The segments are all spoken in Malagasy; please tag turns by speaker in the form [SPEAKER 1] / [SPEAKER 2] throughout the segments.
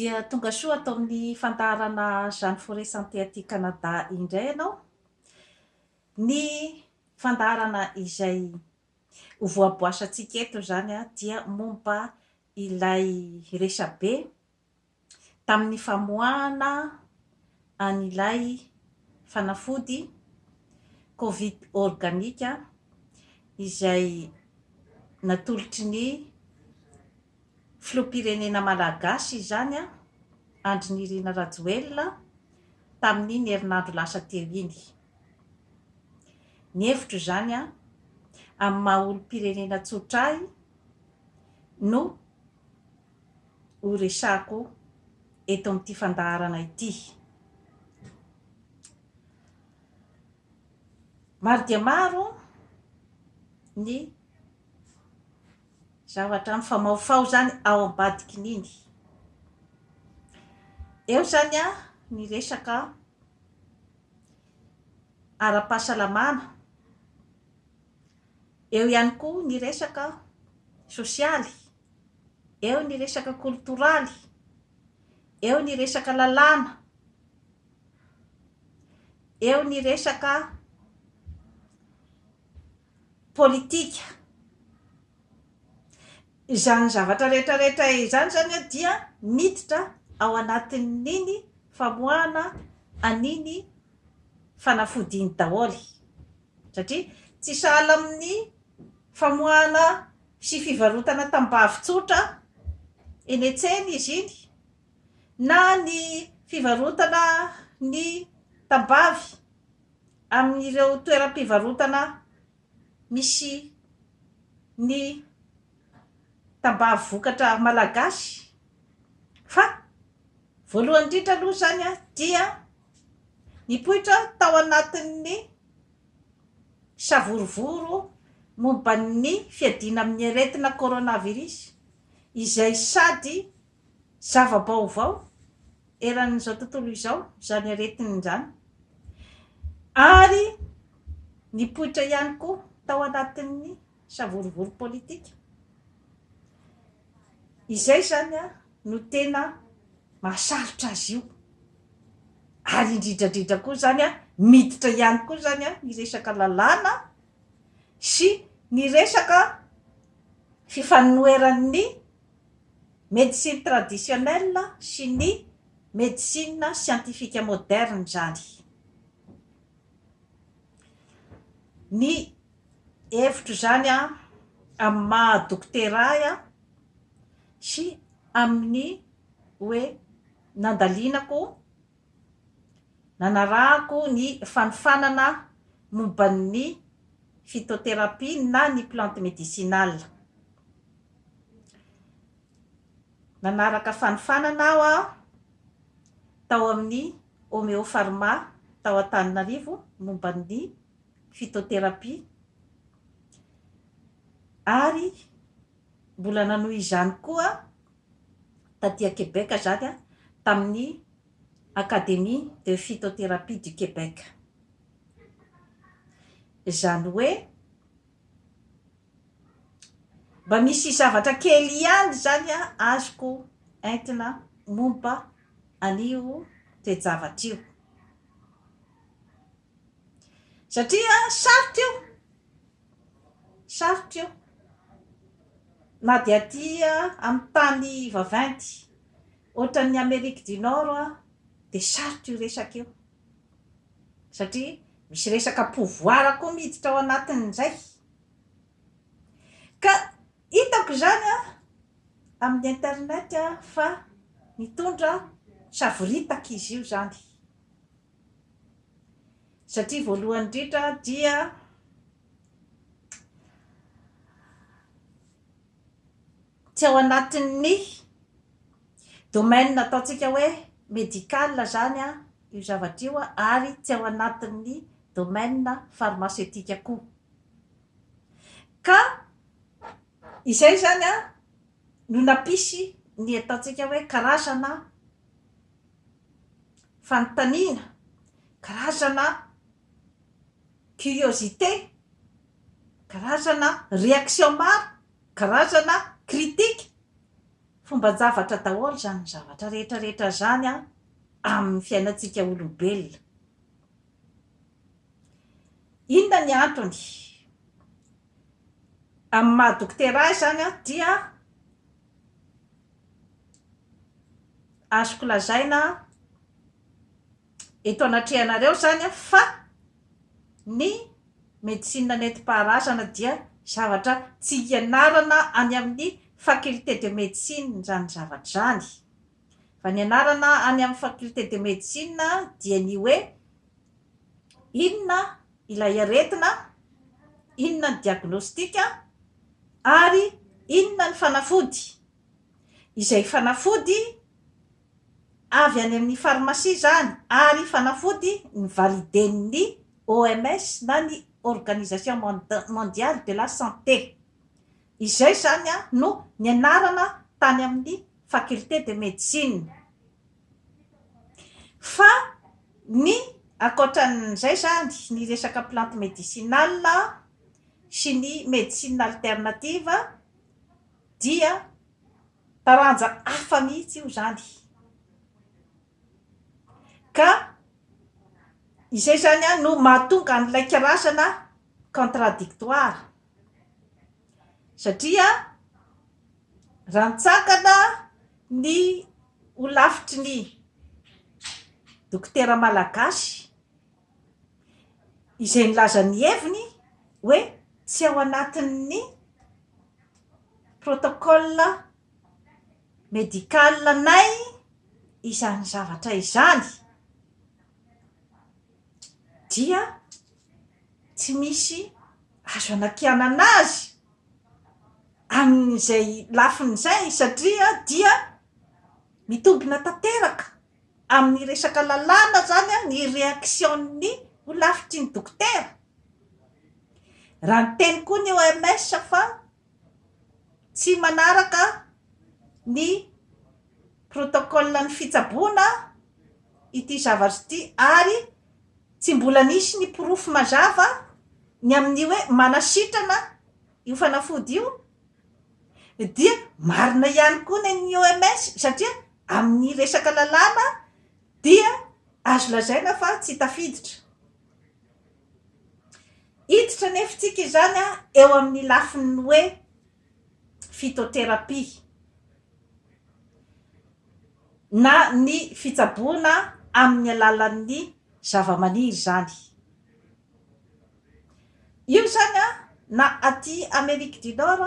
[SPEAKER 1] Dia tonga soa ato amin'ny fandaharana Jeanne Forest Santé aty Canada indray ianao. Ny fandaharana izay ho voaboasantsika eto izany dia momba ilay resabe. tamin'ny famoahana an'ilay fanafody Covid Organic izay natolotry ny Filoham-pirenena malagasy izany Andry Nirina Rajoelina tamin'iny herinandro lasa teo iny. Ny hevitro izany amin'ny maha olom-pirenena tsotra ahy no. ho resahako eto amin'ity fandaharana ity. Maro dia maro ny zavatra mifamahofaho izany ao ambadikin'iny. Eo izany ny resaka ara-pahasalamana, eo ihany koa ny resaka sosialy, eo ny resaka koltoraly, eo ny resaka lalàna, eo ny resaka politika. Izany zavatra rehetrarehetra izany izany dia miditra ao anatin'iny famoahana an'iny fanafody iny daholo satria tsy sahala amin'ny famoahana sy fivarotana tambavy tsotra eny an-tsena izy iny na ny fivarotana ny tambavy amin'ireo toeram-pivarotana misy ny tambavy vokatra malagasy fa voalohany indrindra aloha izany dia nipoitra tao anatin'ny Savorovoro momba ny fiadiana amin'ny aretina coronavirus izay sady zava-baovao eran'izao tontolo izao izany aretina izany ary nipoitra ihany koa tao anatin'ny savorovoro politika izay izany no tena mahasarotra azy io ary indridradridra koa zany a miditra ihany koa zany a ny resaka lalàna sy ny resaka fifanoheran'ny médecine traditionnelle sy ny médecine scientifique moderne zany ny hevitro izany amin'ny maha dokotera ahy sy amin'ny hoe nandalinako, nanarahako ny fanofanana momba ny phytothérapie na ny plante médicinale. Nanaraka fanofanana aho tao amin'ny Homeopharma tao Antananarivo momba ny. phytothérapie, ary mbola nanohy izany koa taty à Québec izany tamin'ny Académie de Phytothérapie du Québec. Izany hoe mba misy zavatra kely ihany izany azoko entina momba an'io toe-javatra io. Satria sarotra io, sarotra io na dia aty amin'ny tany vaventy ohatran'ny Amerique du Nord dia sarotra io resaka io satria misy resaka pouvoir koa miditra ao anatin'izay. Ka hitako izany amin'ny internet fa mitondra savoritaka izy io izany. Satria voalohany indrindra dia tsy ao anatin'ny domaine ataontsika hoe médical izany io zavatra io ary tsy ao anatin'ny domaine pharmaceutique koa. Ka izay izany no nampisy ny ataontsika hoe karazana fanontaniana, karazana curiosité, karazana réaction maro, karazana critique. Fomban-javatra daholo izany zavatra rehetra rehetra izany amin'ny fiainantsika olombelona. Inona ny antony? Amin'ny maha dokotera ahy izany an, dia azoko lazaina eto anatrehanareo izany an, fa ny médecine nentim-paharazana dia zavatra tsy ianarana any amin'ny faculté de médecine izany zavatra izany. Raha ny anarana any amin'ny faculté de médecine dia ny hoe inona ilay aretina, inona ny diagnostic ary inona ny fanafody. Izay fanafody avy any amin'ny pharmacie izany ary fanafody nivaliden'ny OMS na ny Organisation mondiale de la santé. Izay izany no nianarana tany amin'ny Faculté de Médecine. Fa ny ankoatran'izay izany, ny resaka plante médicinale sy ny médecine alternative dia taranja hafa mihitsy io izany. Ka izay izany no mahatonga an'ilay karazana contradictoire. Satria rantsakana ny holafitry ny dokotera malagasy izay nilaza ny heviny hoe tsy ao anatin'ny protocole médical-nay izany zavatra izany. dia tsy misy azo anakianana azy amin'izay lafiny izay satria dia mitombina tanteraka amin'ny resaka lalàna izany ny reaction-n'ny ho lafitry ny dokotera. Raha niteny koa ny OMS fa. tsy manaraka ny protokolin'ny fitsaboana ity zavatra ity ary tsy mbola nisy ny porofo mazava ny amin'ny hoe manasitrana io fanafody io dia marina ihany koa ny an'ny OMS satria amin'ny resaka lalàna dia azo lazaina fa tsy tafiditra Hiditra anefa isika izany eo amin'ny lafiny hoe phytothérapie na ny fitsaboana amin'ny alalan'ny zavamaniry izany. Io izany na aty Amerique du Nord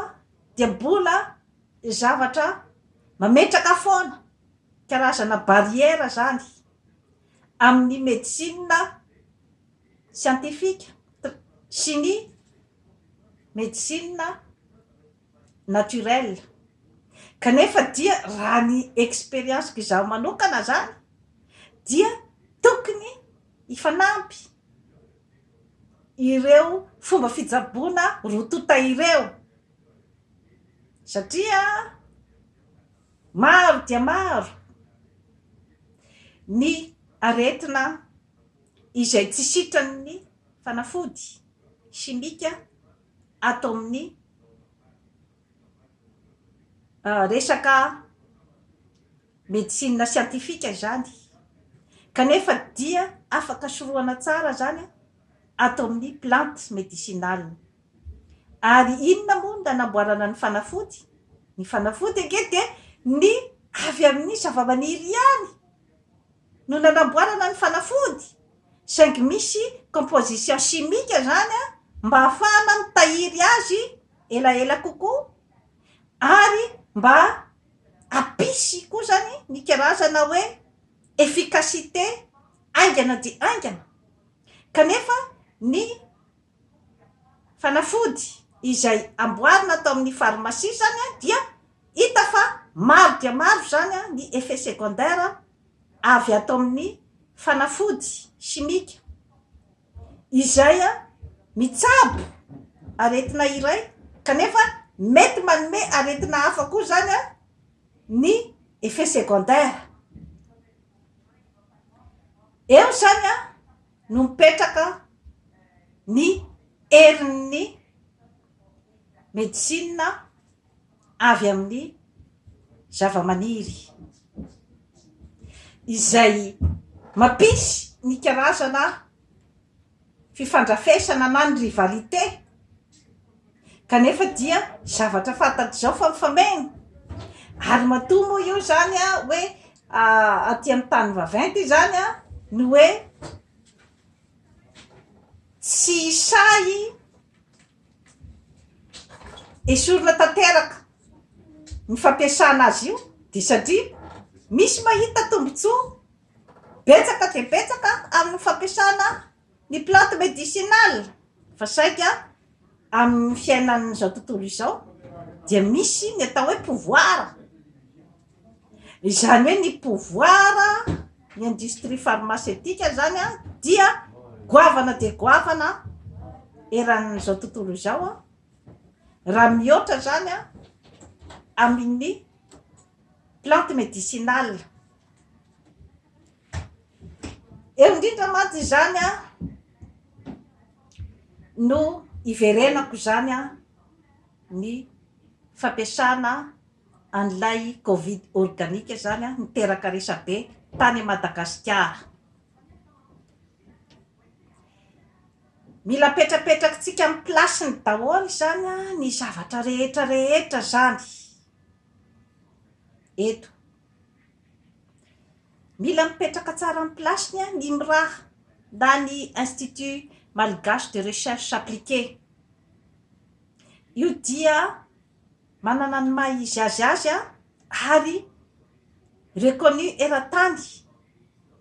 [SPEAKER 1] dia mbola zavatra mametraka foana karazana barrière izany amin'ny medecine siantifika, sy ny medicine naturelle. Kanefa dia raha ny experience-ko izaho manokana izany dia tokony hifanampy ireo fomba fitsaboana roa tonta ireo satria maro dia maro ny aretina izay tsy sitran'ny fanafody simika ato amin'ny resaka medicine siantifika izany, kanefa dia afaka sorohana tsara izany ato amin'ny plante medicinale. Ary inona moa no nanamboarana ny fanafody? Ny fanafody ange dia ny avy amin'ny zavamaniry ihany! no nanamboarana ny fanafody, saingy misy composition chimique izany mba hahafahana mitahiry azy elaela kokoa ary mba hampisy koa izany ny karazana hoe efficacité haingana dia haingana kanefa ny Fanafody izay amboarina tao amin'ny farmasia izany dia hita fa maro dia maro izany ny effets secondaires avy ato amin'ny fanafody simika izay mitsabo aretina iray kanefa mety manome aretina hafa koa izany ny effets secondaires. Eo izany an! no mipetraka ny herin'ny medicine avy amin'ny zava-maniry izay mampisy ny karazana fifandrafesana na ny rivalité kanefa dia zavatra fantatr'izao fa mifameno ary matoa moa io zany hoe aty amin'ny tany vaventy izany a ny hoe tsy sahy esorina tanteraka ny fampiasana azy io dia satria misy mahita tombontsoa betsaka dia betsaka amin'ny fampiasana Ny plantes médicinales fa saika amin'ny fiainan'izao tontolo izao dia misy ny atao hoe pouvoir, izany hoe ny pouvoir ny industrie pharmaceutique izany dia goavana dia goavana eran'izao tontolo izao raha mihoatra izany amin'ny plantes médicinales. Eo indrindra mantsy izany no iverenako izany ny fampiasana an'ilay covid organique izany niteraka resabe tany Madagasikara. Mila apetrapetrakintsika amin'ny place-ny daholo izany ny zavatra rehetra rehetra izany eto. Mila mipetraka tsara am place-ny an ny miraha na ny Institut Malgache de Recherche Appliquée. Io dia manana ny maha izy azy azy an ary reconnu eran-tany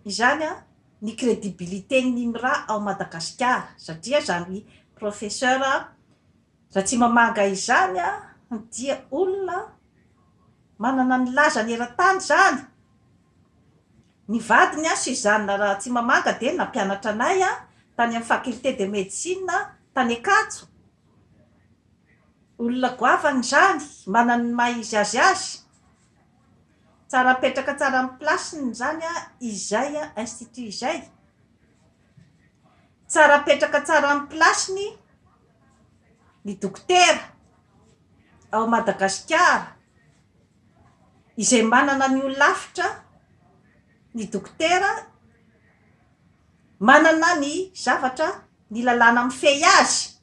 [SPEAKER 1] izany an ny credibilité-n'ny miraha ao Madagasikara satria izany Professeur Ratsimamanga izany an dia olona manana ny lazany eran-tany izany. Ny vadiny an, Suzanne Rahatsimamanga dia nampianatra anay an, tany amin'ny faculté de médecine tany Ankatso. Olona goavana izany, manana ny maha izy azy azy. Tsara apetraka tsara amin'ny place-ny izany an, izay institut izay. Tsara apetraka tsara amin'ny place-ny ny dokotera ao Madagasikara. izay manana ny holafitra, ny dokotera, manana ny zavatra, ny lalàna mifehy azy.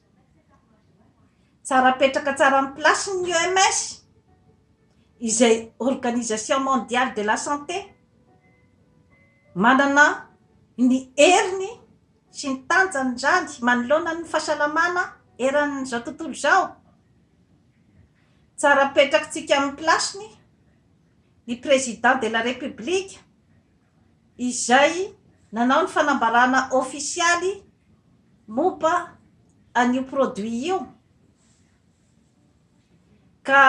[SPEAKER 1] Tsara apetraka tsara amin'ny place-ny ny OMS, izay Organisation Mondiale de la Santé. Manana ny heriny sy ny tanjany izany manoloana ny fahasalamana eran'izao tontolo izao. Tsara apetrakitsika amin'ny place-ny ny Président de la République izay nanao ny fanambarana ofisialy momba an'io produit io ka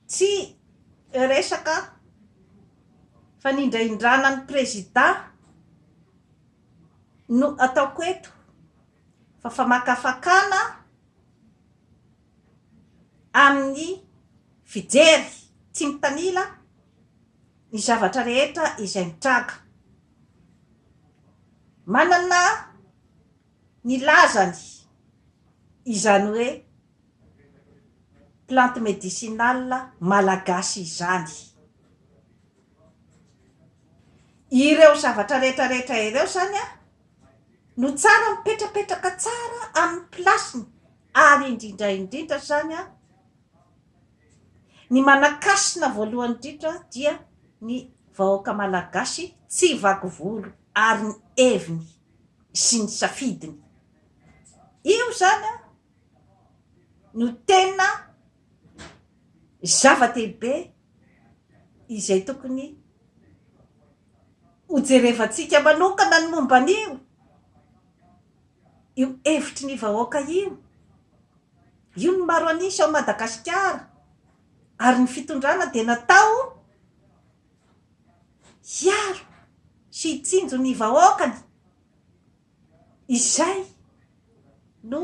[SPEAKER 1] tsy resaka fanindrahindrana ny Président no ataoko eto fa famakafakana amin'ny fijery tsy mitanila ny zavatra rehetra izay mitranga. Manana ny lazany izany hoe plante médicinale malagasy izany. Ireo zavatra rehetra rehetra ireo izany no tsara mipetrapetraka tsara amin'ny place-ny ary indrindra indrindra izany ny manan-kasina voalohany indrindra dia ny vahoaka malagasy tsy vaky volo ary ny heviny sy ny safidiny. Io izany no tena zava-dehibe. izay tokony hojerevantsika manokana ny momba an'io io hevitry ny vahoaka io, io ny maro an'isa ao Madagasikara ary ny fitondrana dia natao hiaro sy hitsinjo ny vahoakany. Izay no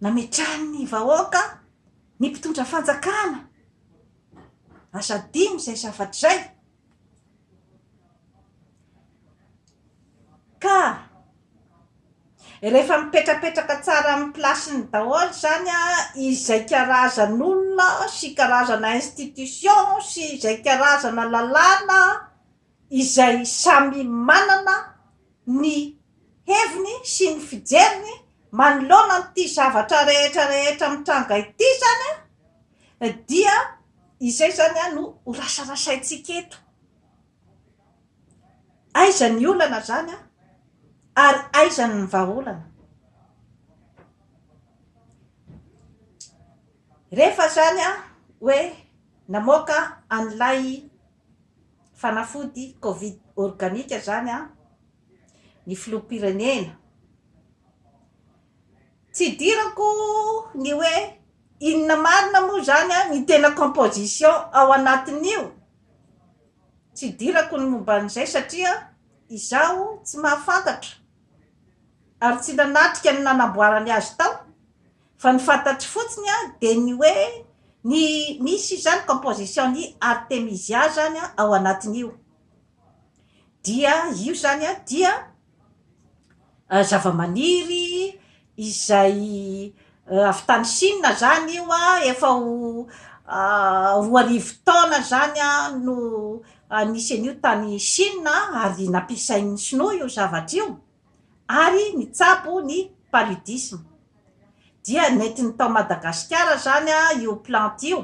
[SPEAKER 1] nametrahan'ny vahoaka ny mpitondra fanjakana. Aza adino izay zavatra izay. Ka rehefa mipetrapetraka tsara amin'ny place-ny daholo izany izay karazan'olona sy karazana institution sy izay karazana lalàna, izay samy manana ny heviny sy ny fijeriny manoloana an'ity zavatra rehetra rehetra mitranga ity izany dia izay izany no ho rasarasaintsika eto. Aiza ny olana izany ary aiza ny vahaolana? Rehefa izany hoe namoaka an'ilay Fanafody covid organique zany an, ny filoham-pirenena. Tsy idirako ny hoe inona marina moa zany an ny tena composition ao anatin'io, tsy idirako ny momba an'izay satria izaho tsy mahafantatra ary tsy nanatrika ny nanamboarany azy tao Fa ny fantatro fotsiny a dia ny hoe ny misy izany composition ny artemisia izany a ao anatin'io dia io izany a dia zavamaniry izay avy tany Chine izany io a efa ho roa arivo taona izany a no nisy an'io tany Chine ary nampiasain'ny sinoa io zavatra io ary nitsabo ny paludisme. Dia nentiny tao Madagasikara izany io plante io,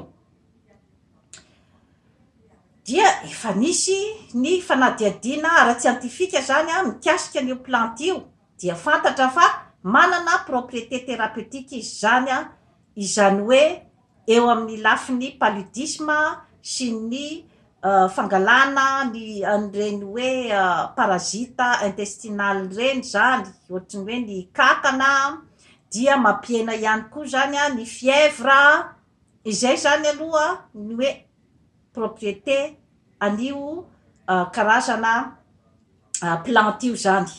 [SPEAKER 1] dia efa nisy ny fanadihadiana ara-tsiantifika izany mikasika an'io plante io, dia fantatra fa manana propriété thérapeutique izy izany, izany hoe eo amin'ny lafiny paludisme sy ny fangalana ny an'ireny hoe parasite intestinal ireny izany, ohatry ny hoe ny kankana dia mampihena ihany koa izany ny fièvre, izay izany aloha ny hoe propriété an'io karazana plantes io izany.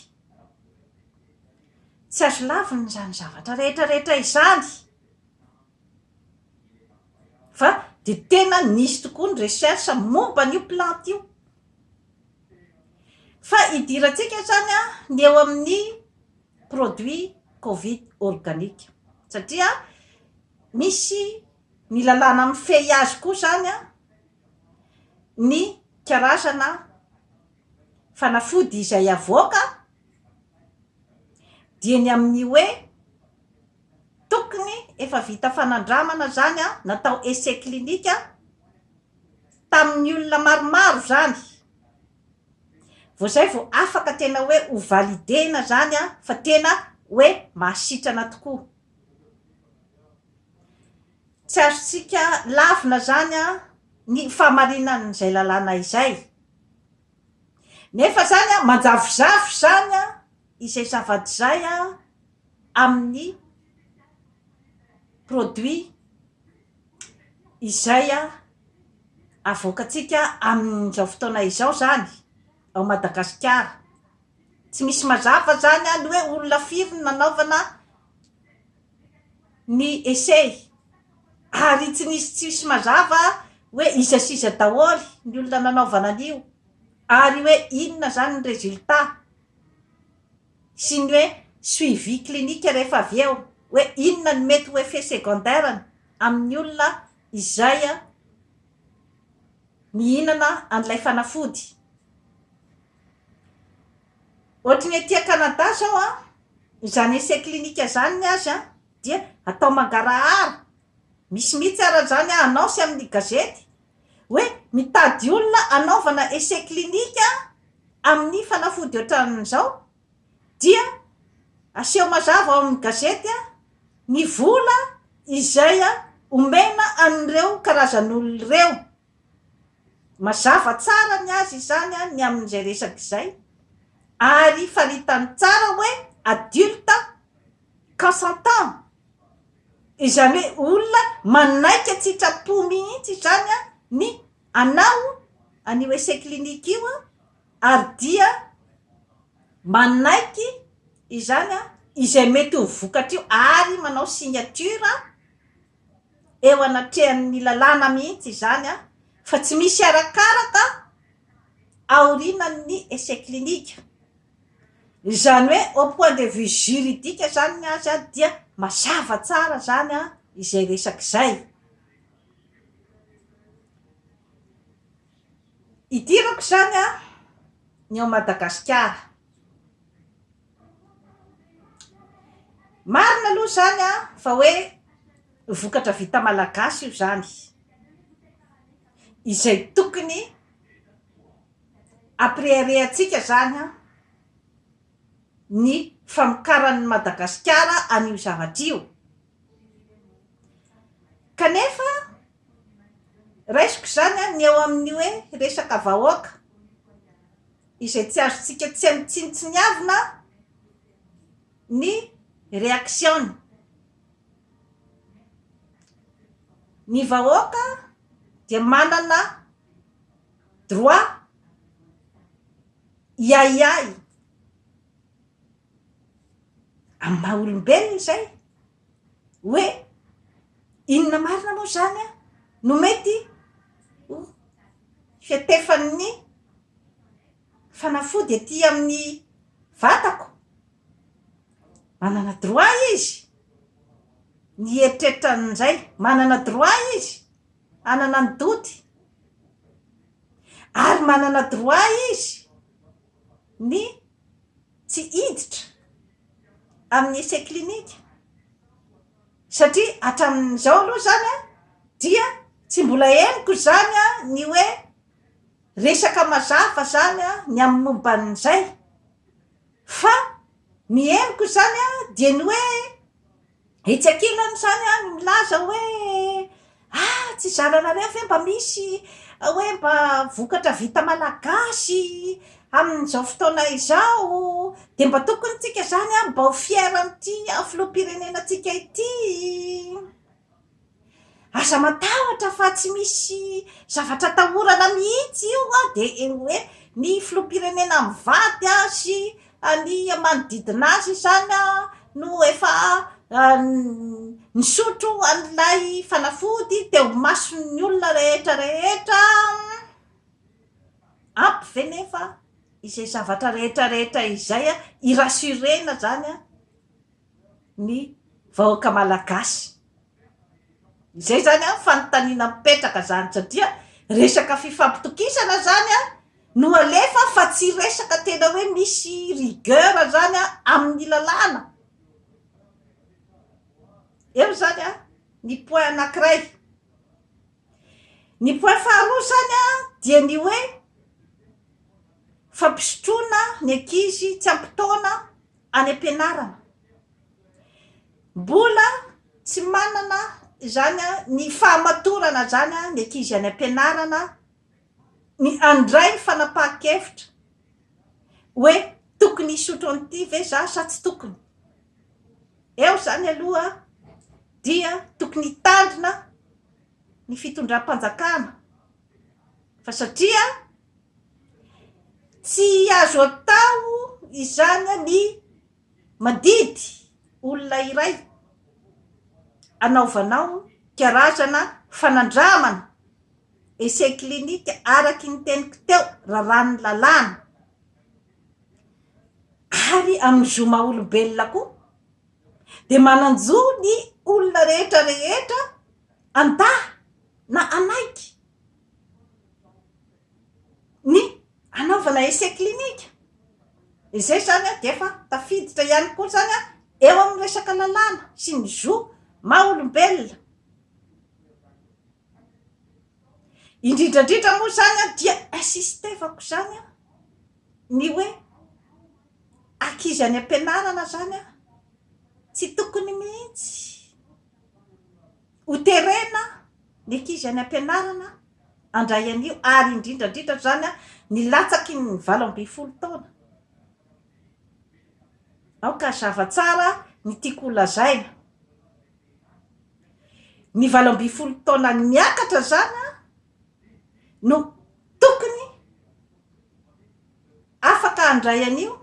[SPEAKER 1] Tsy azo lavina izany zavatra rehetra rehetra izany. Fa dia tena nisy tokoa ny recherche momba an'io plante io. Fa idirantsika izany ny eo amin'ny produit covid organique. Satria misy ny lalàna mifehy azy koa izany ny karazana fanafody izay avoaka dia ny amin'ny hoe Tokony efa vita fanandramana izany an, natao essai clinique tamin'ny olona maromaro izany, vao izay vao afaka tena hoe ho valider-na izany an, fa tena hoe mahasitrana tokoa. Tsy azontsika lavina izany an, ny fahamarinan'izay lalàna izay. Nefa izany an, manjavozavo izany an, izay zava-dizay an, amin'ny produit izay avoakantsika amin'izao fotoana izao izany ao Madagasikara. Tsy misy mazava izany ny hoe olona firy no nanaovana ny essai ary tsy nisy tsy misy mazava hoe iza sy iza daholo ny olona nanaovana an'io ary hoe inona izany ny résultat. sy ny hoe suivi clinique rehefa avy eo hoe inona no mety ho effet secondaire-ny amin'ny olona izay mihinana an'ilay fanafody. Ohatry ny ety Canada izao izany essai clinique izany ny azy dia atao mangarahara, misy mihitsy ary izany annonce amin'ny gazety. Hoe mitady olona hanaovana essai clinique amin'ny fanafody ohatran'izao dia aseho mazava ao amin'ny gazety ny vola izay omena an'ireo karazan'olona ireo. Mazava tsara ny azy izany ny amin'izay resaka izay ary faritany tsara hoe adulte consentant. Izany hoe olona manaiky an-tsitrapo mihitsy izany ny hanao an'io essai clinique io ary dia manaiky izany izay mety ho vokatra io ary manao signature eo anatrehan'ny lalàna mihitsy izany fa tsy misy arakaraka aorianan'ny essai clinique. Izany hoe au point de vue juridique izany ny azy dia mazava tsara izany izay resaka izay. Idirako izany ny ao Madagasikara. Marina aloha izany fa hoe vokatra vita malagasy io izany izay tokony. Ampireharehantsika izany an, ny famokaran'i Madagasikara an'io zavatra io. Kanefa, raisiko izany an, ny eo amin'ny hoe resaka vahoaka, izay tsy azontsika tsy amin-tsinontsiniavina ny reaction-ny. Ny vahoaka dia manana droit hiahiahy amin'ny maha olombelona izay hoe inona marina moa izany an no mety ho fiantefan'ny fanafody aty amin'ny vatako manana droit izy ny hieritreritra an'izay manana droit izy Hanana ny doti. Ary manana droit izy ny tsy hiditra amin'ny essai clinique. Satria hatramin'izao aloha izany dia tsy mbola henoko izany ny hoe resaka mazava izany ny amin'ny momba an'izay. Fa ny henoko izany dia ny hoe. Etsy ankilany izany no milaza hoe ah tsy zaranareo ve mba misy hoe mba vokatra vita malagasy amin'izao fotoana izao dia mba tokony tsika izany mba ho fier amin'ity filoham-pirenena antsika ity. Aza matahotra fa tsy misy zavatra atahorana mihitsy io an, dia eo hoe ny filoham-pirenena mivady an sy ny manodidina azy izany an no efa nisotro an'ilay fanafody teo imason'ny olona rehetra rehetra an, ampy ve nefa izay zavatra rehetra rehetra izay an, hi rassurer-na izany an. ny vahoaka malagasy. Izay izany an, fanontaniana mipetraka izany satria resaka fifampitokisana izany an no alefa fa tsy resaka tena hoe misy rigueur izany an amin'ny lalàna. Eo izany an ny point anankiray. Ny point faharoa izany an dia ny hoe fampisotroana ny ankizy tsy ampy taona any am-pianarana. Mbola tsy manana izany ny fahamatorana izany ny ankizy any am-pianarana ny handray ny fanapahan-kevitra hoe tokony hisotro an'ity ve za sa tsy tokony. Eo izany aloha dia tokony hitandrina ny fitondram-panjakana fa satria Tsy azo atao izany ny mandidy olona iray anaovanao karazana fanandramana, essai clinique, araka ny teniko teo, raràn'ny lalàna. Ary amin'ny zo maha-olombelona koa dia manan-jo ny olona rehetra rehetra handaha na hanaiky. ny hanaovana essai clinique. Izay izany dia efa tafiditra ihany koa izany eo amin'ny resaka lalàna sy ny zo maha olombelona. Indrindra indrindra moa izany dia insistevako izany ny hoe ankizy any am-pianarana izany tsy tokony mihitsy. Ho terena ny ankizy any am-pianarana handray an'io ary indrindra indrindra izany ny latsaky ny valo ambin'ny folo taona. Aoka hazava tsara ny tiako holazaina. Ny valo ambin'ny folo taona miakatra izany no tokony afaka handray an'io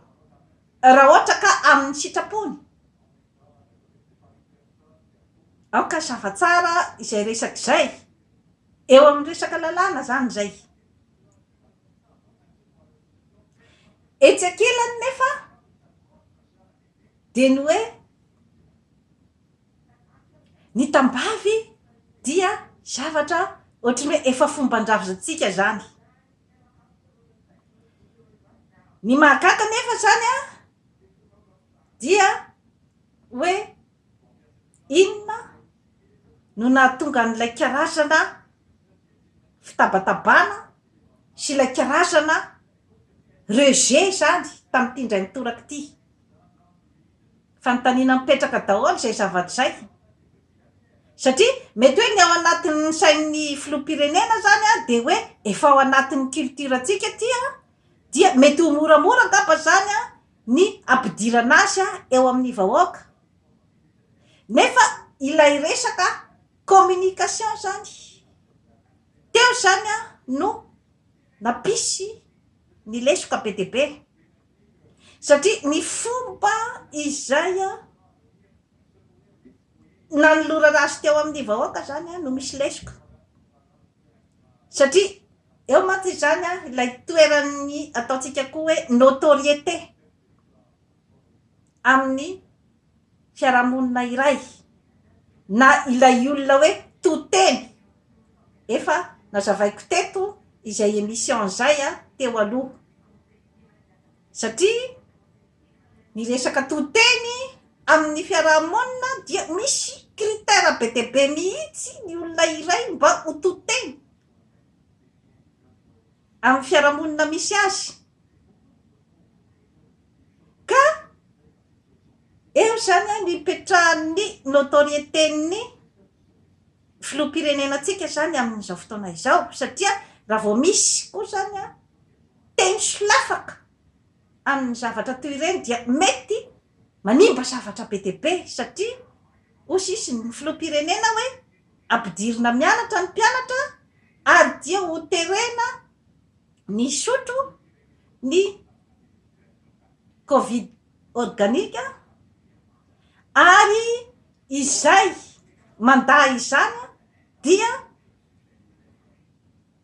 [SPEAKER 1] raha ohatra ka amin'ny sitrapony Aoka zava tsara izay resaka izay. Eo amin'ny resaka lalàna izany izay. Etsy ankilany nefa dia ny hoe ny tambavy dia zavatra ohatry ny hoe efa fomban-drazantsika izany. Ny mahagaga nefa izany an! Dia hoe inona no nahatonga an'ilay karazana fitabatabana sy ilay karazana rejet izany tamin'ity indray mitoraka ity? Fanontaniana mipetraka daholo izay zavatra izay. Satria mety hoe ny ao anatin'ny sain'ny filoham-pirenena izany dia hoe efa ao anatin'ny culture-ntsika ity dia mety ho moramora angamba izany ny hampidirana azy eo amin'ny vahoaka nefa ilay resaka communication zany teo zany no nampisy ny lesoka be dia be satria ny fomba izay nanolorana azy teo amin'ny vahoaka zany no misy lesoka. Satria eo mantsy izany an, ilay toeran'ny ataontsika koa hoe notoriété amin'ny fiarahamonina iray, na ilay olona hoe to-teny. Efa nazavaiko teto izay émission izay an, teo aloha. Satria. Ny resaka to-teny amin'ny fiaraha-monina dia misy critère be dia be mihitsy ny olona iray mba ho to-teny amin'ny fiaraha-monina misy azy ka eo izany no ipetrahan'ny notoriété-n'ny filoham-pirenena antsika izany amin'izao fotoana izao satria raha vao misy koa izany teny solafaka amin'ny zavatra toy ireny dia mety manimba zavatra be dia be satria hoy sisa ny filoham-pirenena hoe ampidirina mianatra ny mpianatra ary dia ho terena ny hisotro ny covid organique ary izay mandà izany dia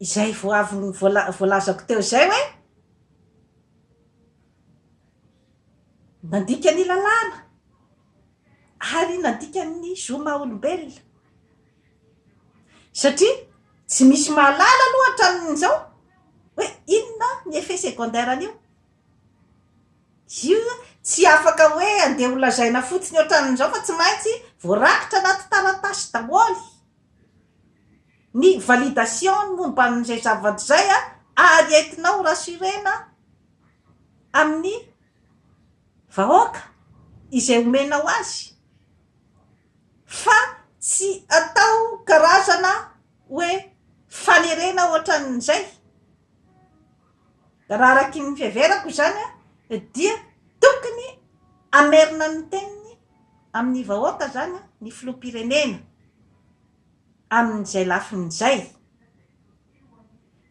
[SPEAKER 1] izay vao avy voalazako teo izay hoe nandika ny lalàna ary nandika ny zo maha olombelona satria tsy misy mahalala aloha hatramin'izao hoe inona ny effet secondaire an'io io tsy afaka hoe andeha ho lazaina fotsiny ohatran'izao fa tsy maintsy voarakitra anaty taratasy daholo ny validation ny momba an'izay zavatra izay ary entinao rassurena amin'ny vahoaka izay omenao azy fa tsy atao karazana hoe fanerena ohatran'izay raha araky ny fiheverako izany dia tokony hamerina ny teniny amin'ny vahoaka izany ny filoham-pirenena. amin'izay lafiny izay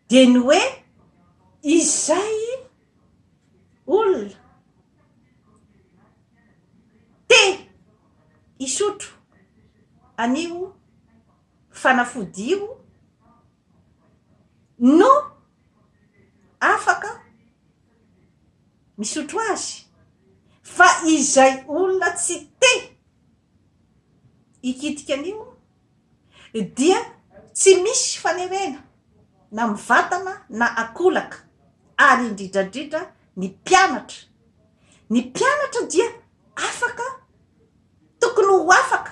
[SPEAKER 1] dia ny hoe izay olona te hisotro an'io fanafody io no afaka misotro azy fa izay olona tsy te hikitika an'io dia tsy misy fanerena na mivatana na akolaka ary indridradridra ny mpianatra ny mpianatra dia afaka tokony ho afaka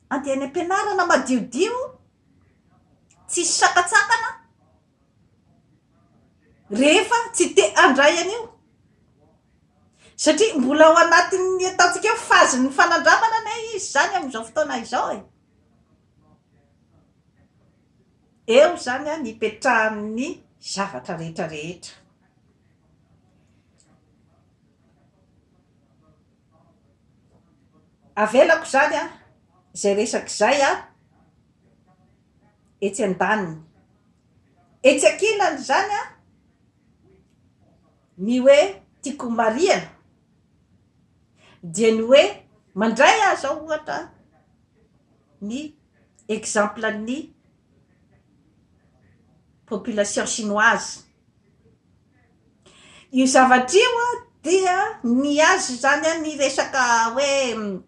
[SPEAKER 1] andeha any am-pianarana madiodio tsisy sakatsakana rehefa tsy te handray an'io satria mbola ao anatin'ny ataontsika hoe phase ny fanandramana anie izy izany amin'izao fotoana izao e, eo izany an ipetrahan'ny zavatra rehetra rehetra avelako izany an izay resaka izay an etsy andaniny. Etsy ankilan'izany ny hoe tiako homarihana dia ny hoe mandray aho izao ohatra ny exemple an'ny population chinoise. Io zavatra io dia ny azy izany ny resaka hoe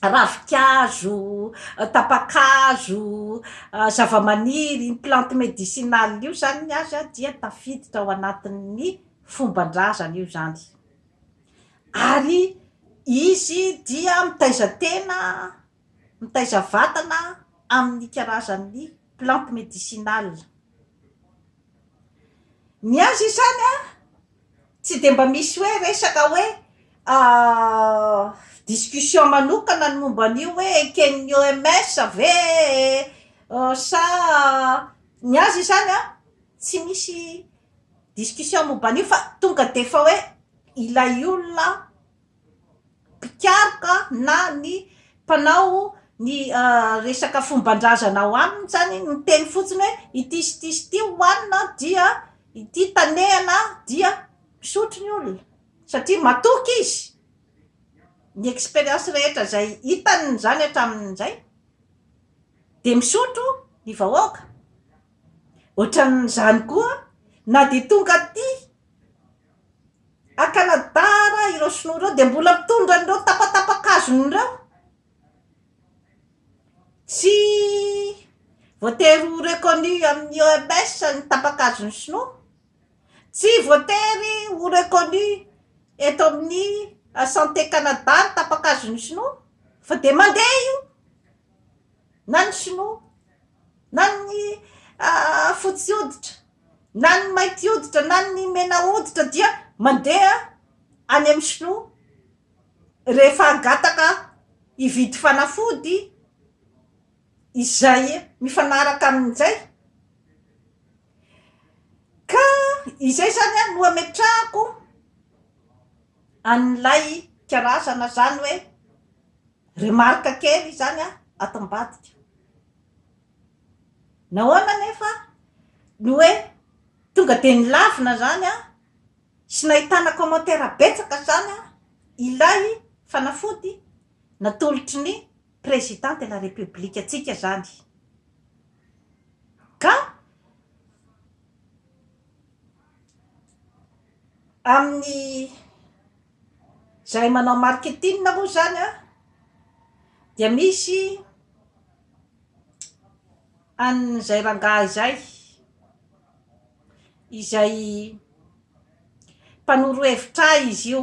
[SPEAKER 1] ravinkazo, tapa-kazo, zavamaniry, ny plantes médicinales io izany ny azy dia tafiditra ao anatin'ny fomban-drazana io izany ary izy dia mitaiza tena Mitaiza vatana amin'ny karazan'ny plantes médicinales. Ny azy izany an, tsy dia mba misy hoe resaka hoe discussion manokana ny momba an'io hoe eken'ny OMS ve sa ny azy izany an, tsy misy discussion momba an'io fa tonga dia efa hoe ilay olona mpikaroka na ny mpanao ny resaka fomban-drazana ao aminy zany miteny fotsiny hoe ity sy ity sy ity hohanina dia ity tanehana dia misotro ny olona satria matoky izy ny expérience rehetra izay hitany izany hatramin'izay dia misotro ny vahoaka ohatran'izany koa na dia tonga aty A Canada raha ireo sinoa ireo dia mbola mitondra an'ireo tapatapakazony ireo tsy voatery ho reconnu amin'ny OMS ny tapakazon'ny sinoa tsy voatery ho reconnu eto amin'ny Santé Canada ny tapakazon'ny sinoa fa dia mandeha io na ny sinoa na ny fotsy hoditra na ny mainty hoditra na ny mena hoditra dia mandeha any amin'ny sinoa rehefa hangataka hividy fanafody izay mifanaraka amin'izay ka izay izany no hametrahako an'ilay karazana izany hoe remarque kely izany ato ambadika. Nahoana anefa no hoe tonga dia nilavina izany sy nahitana commentaires betsaka izany ilay fanafody natolotry ny Président de la République antsika izany ka amin'ny izahay manao marketing moa izany dia misy an'izay rangahy izay, izay mpanoro hevitra ahy izy io,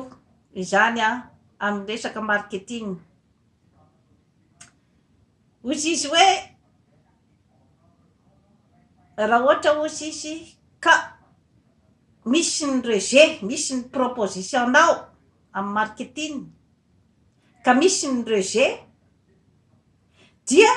[SPEAKER 1] izany an, amin'ny resaka marketing. Hozy izy hoe, raha ohatra hozy izy ka misy ny rejet, misy ny proposition-nao amin'ny marketing, ka misy ny rejet, dia